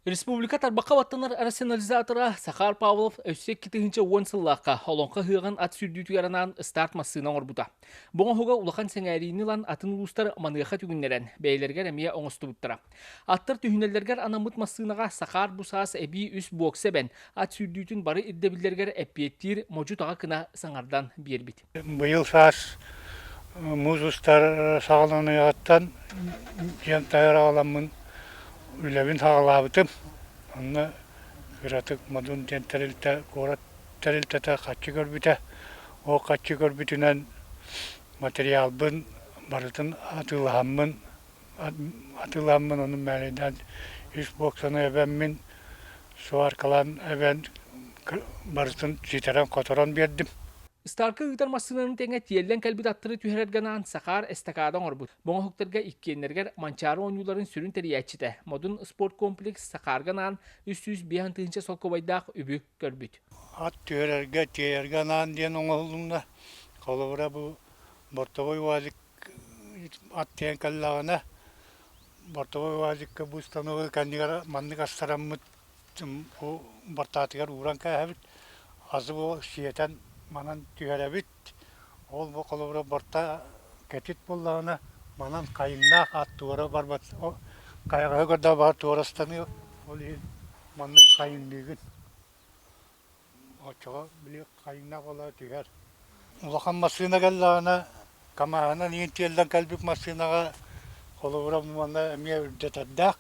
Республика тарбахха баттанар рационализатора Сахар Павлов өссө икки тыһыынча уон сыллаахха Олоҥхо ыһыаҕын ат сүүрдүүтүгэр анаан старт массыына оҥорбута. Бу оҥоһуга улахан сэҥээриини ылан атын улуустар маныаха түгүннэрэн, бэйэлэригэр эмиэ оҥостубуттара. Аттар түһүнэллэригэр анаммыт массыынаҕа Сахар бу саас эбии үс буокса эбэн, ат сүүрдүүтүн бары ирдэбиллэригэр эппиэттиир модьу таҕа кына саҥардан биэрбит. Быйыл саас муус устар саҕаланыаҕыттан дьиэм таһыгар аҕаламмын үлэбин саҕалаабытым. Онно кыратык Модун диэн тэрилтэ куорат тэрилтэтэ харчы көрбүтэ. Ол харчы көрбүтүнэн материалбын барытын атыылаһаммын атыыламмын онон мээрэйдээн ис боксаны эбэммин сваркалаан эбэн барытын ситэрэн-хоторон биэрдим Старка ыытар массыынаны тэҥэ тиэллэн кэлбит аттары түһэрэргэ анаан Сахаар эстакаада оҥорбут. Боҥоһуктарга иккиэннэригэр Манчаары оонньууларын сүрүн тэрийээччитэ, модун спорт комплекс Сахаарга анаан үс сүүс биэс тыһыынча солкуобайдаах үбү көрбүт. Ат түһэрэргэ, тиэйэргэ анаан диэн оҥоһулунна. Холобура, бу бортовой УАЗик Ат тиэйэн кэллэҕинэ бортовой УАЗикка бу установка кэннигэр маннык астараммыт бу бортаатыгар ууран кээһэбит, азы бу сиэтэн манан түһэрэбит. Ол бу холобура борта кэтит буоллаҕына манан хайыҥнаах ат туора барбат хайҕаһы көрдөҕө баҕар туора станыа ол иһин маннык хайыҥныыгын Оччоҕо били хайдах ыла түһэр. Улахан массыына кэллэҕинэ КамАһынан иин тиэллэн кэлбит массыынаҕа холобура манна эмиэ үрдэтэрдээх.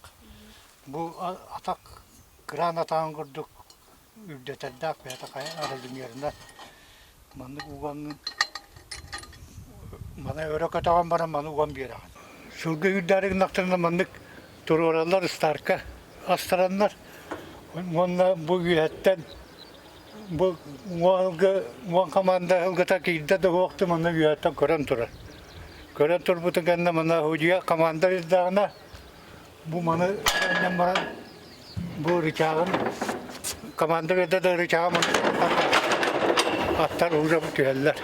Бу атах кыраан атаҕын курдук үрдэтэрдээх бэйэтэ аһылимиэринэ Маннык угаҥҥын маны өрө көтөҕөн баран маны уган биэрэҕин. Сылга үрдээри гыннахтарына маннык туруораллар ыстаарка астараннар уонна бу үөһэттэн бу уҥа аһылгы уон хамаанда аһылгыта киирдэ да уһуох да манна үөһэттэн көрөн турар. Көрөн турбутун кэннэ манна аһудьуйа хамаанда ирдээҕинэ Бу маны таһынан баран бу рычагым командир эрдэ да рычагым аттар уже түһэллэр.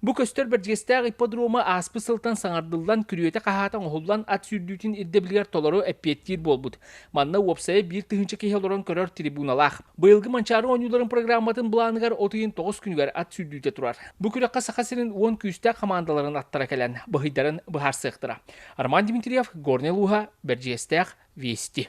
Бу көстөр бэрдьиэстээх ипподрома ааспыт сылтан саҥардыллан, күрүөтэ хаһаата оҥоһуллан ат сүүрдүүтүн ирдэбилигэр толору эппиэттиир буолбут. Манна уопсайа биир тыһыынча киһи олорон көрөр трибуналаах. Быйылгы Манчаары оонньууларын программатын былааныгар от ыйын тоҕус күнүгэр ат сүүрдүүтэ турар. Бу күрэххэ Саха сирин уон күүстээх хамаандаларын аттара кэлэн, быһыйдарын быһаарсыахтара. Арман Дмитриев, Горнай улууһа, Бэрдьиэстээх, Вести.